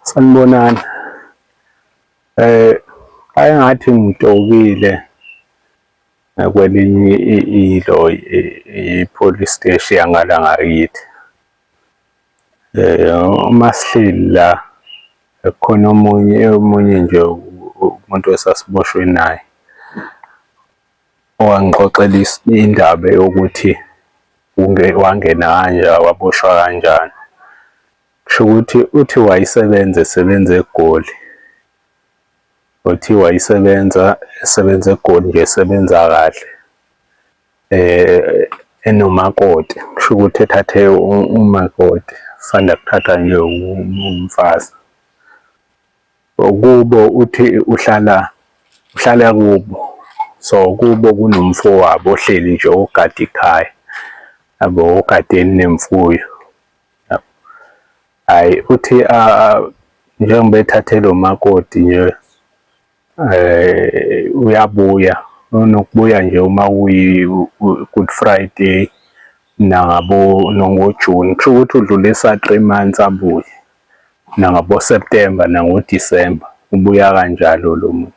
Sanibonani. Eh ayengathi ngitokile kwelinye ilo i-police steshi yangala ngakithi. Eh uma sihleli la khona omunye omunye nje umuntu esasiboshwe naye. Owangixoxela indaba yokuthi wangena kanjani, waboshwa kanjani. Kusho ukuthi uthi wayesebenza esebenza eGoli. Uthi wayesebenza esebenza eGoli nje esebenza kahle enomakoti. Kusho ukuthi ethathe umakoti, usanda kuthathwa nje umfazi. Okubo uthi uhlala uhlala kubo so kubo kunomfowabo ohleli nje ogada ikhaya yabo ogadeni nemfuyo hayi uthi njengoba ethathe lo makoti nje eh uyabuya unokubuya nje uma uyi good friday nabo nongojuni kusho ukuthi udlulisa 3 months abuye nangaboSeptember nangoDisemba ubuya kanjalo lo muntu.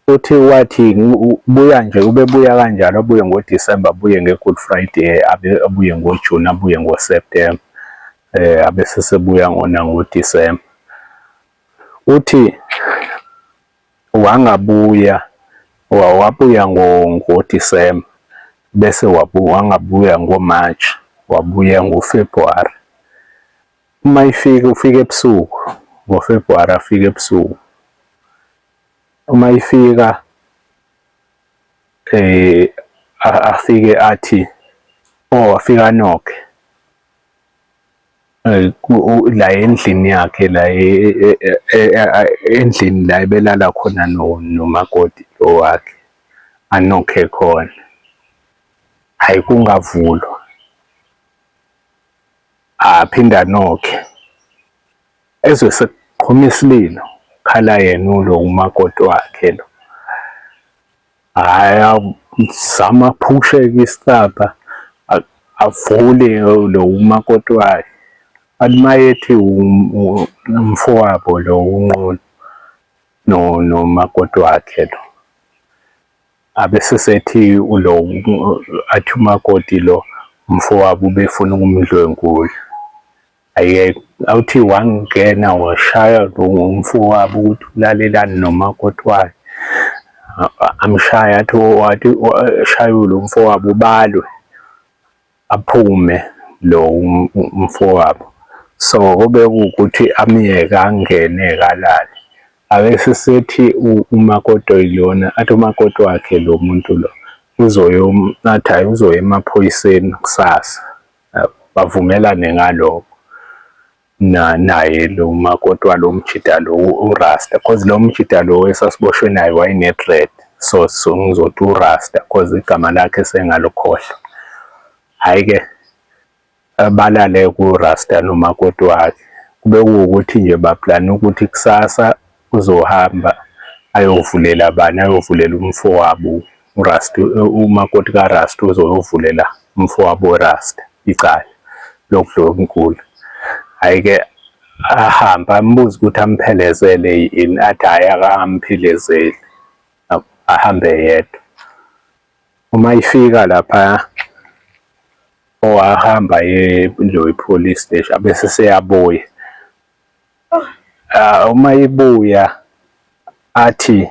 Uthi wathi ubuya nje ubebuya kanjalo abuye ngoDisemba abuye nge-Good Friday abuye ngoJuni abuye ngoSeptemba eh abese sebuya ngona ngoDisemba. Uthi Wangabuya, wabuya ngo ngoDisemba bese wangabuya ngoMarch, wabuya ngoFebhuwari. Uma ifika ufika ebusuku ngoFebhuwari afike ebusuku. Uma ifika afike athi or afike anokhe. la endlini yakhe la e, e, e, endlini la ebelala khona nomakoti lo wakhe anokhe khona hhayi kungavulwa aphinde anokhe ezwe sekuqhuma isililo khala yena ulo umakoti wakhe lo Haya zama phushe kistapa avule lo umakoti wakhe athi mayethi umfowabo lo unqunu no nomakoti wakhe lo abese sethi ulo athi umakoti lo umfowabo ubefuna ukumdlwengula Aye awuthi wangena washaya lo mfowabo ukuthi ulalelani nomakoti wakhe. Amshaya athi wathi shaywe lo mfowabo ubalwe aphume lo mfowabo. So kube kuwukuthi amyeke angene-ke alale. Ake sisethi umakoti oyilona athi umakoti wakhe lo muntu lo uzoyoma athi hhayi uzoya emaphoyiseni kusasa. bavumelane ngaloko na naye lo makoti walo mjida lo urasta cause lo mjida lo esasiboshwe naye wayene-dread so so ngizothi urasta cause igama lakhe sengalukhohlwa hhayi-ke balale kurasta nomakoti wakhe kube kuwukuthi nje baplane ukuthi kusasa uzohamba ayovulela bani ayovulela umfowabo uRasta umakoti kaRasta uzoyovulela umfowabo weRasta icala lokudlwengula hhayi ke ahambe ambuze ukuthi amphelezele yini athi hhayi akamphelezeli ahambe yedwa uma ifika lapha owahamba ye loyi police station abese seyabuya Ah, uma ibuya athi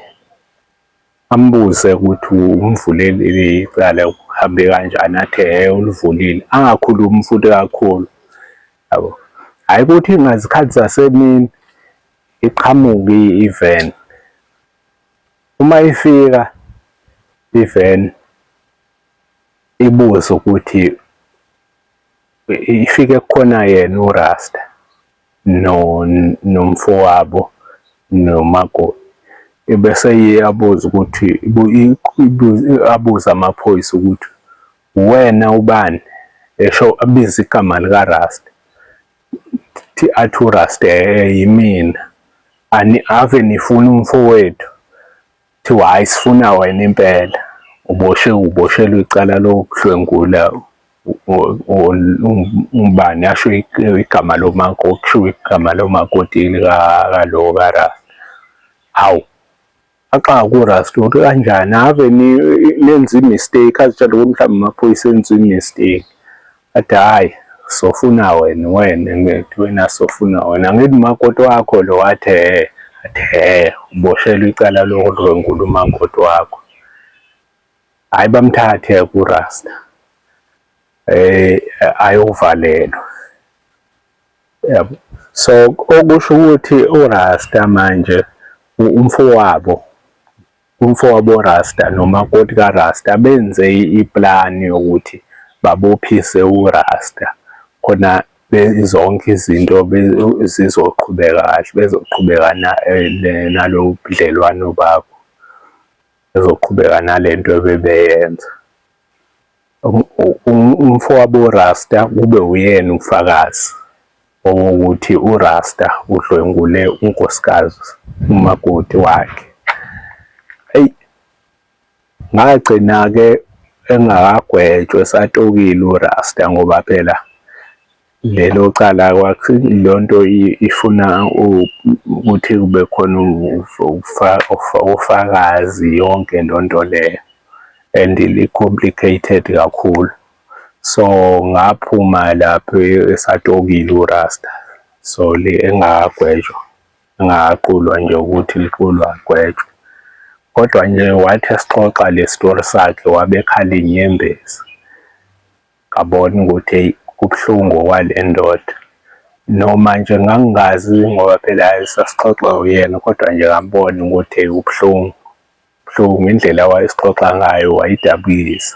ambuze ukuthi umvulelile icala uhambe kanjani athe he ulivulile angakhulumi futhi kakhulu yabo hhayi ukuthi ngazikhathi zasemini iqhamuke i-even uma ifika i-van ibuze ukuthi ifike kukhona yena urasta no nomfowabo nomakoti ebese iyabuza ukuthi abuze amaphoyisa ukuthi uwena ubani esho abize igama likaRasta thi athi uRasta yimina ani ave nifuna umfowethu Kuthiwa hhayi sifuna wena impela, uboshwe uboshelwe icala lokudlwengula umbani asho igama lomakoti kushiwo igama lomakoti likalo kaRasta. Hawu, axaka kuRasta ukuthi kanjani ave nenze i-mistake azitshela ukuthi mhlawumbe amaphoyisa enze i-mistake. Athi hhayi sofuna wena wena ngithi wena sofuna wena ngithi umakoti wakho lo wathi hhe athi hhe uboshelwe icala lokudlwengula umakoti wakho hhayi bamthathe kurasta eh ayovalelwa yabo so okusho ukuthi urasta manje umfowabo Umfowabo Rasta nomakoti ka Rasta benze I plan yokuthi babophise u Rasta khona zonke izinto zizoqhubeka kahle bezoqhubeka nalobudlelwano babo bezoqhubeka nalento ebebeyenza. Umfowabo uRasta kube uyena ufakazi owokuthi uRasta udlwengule unkosikazi umakoti wakhe. Eyi ngagcina-ke engakagwetshwa esatokile uRasta ngoba phela. lelo cala kwakhe lonto ifuna ukuthi kube khona ufakazi yonke lonto leyo and li-complicated kakhulu so ngaphuma lapho esatokile urasta so le engagwetshwa engaqulwa nje ukuthi liqulwa agwetshwe kodwa nje wathi esixoxa le story sakhe wabekhala inyembezi Ngabona ukuthi eyi kubuhlungu okwale ndoda. Noma nje ngangingazi ngoba phela sasixoxa uyena kodwa nje ngambona ukuthi eyi ubuhlungu. Ubuhlungu indlela wayesixoxa ngayo wayidabukisa.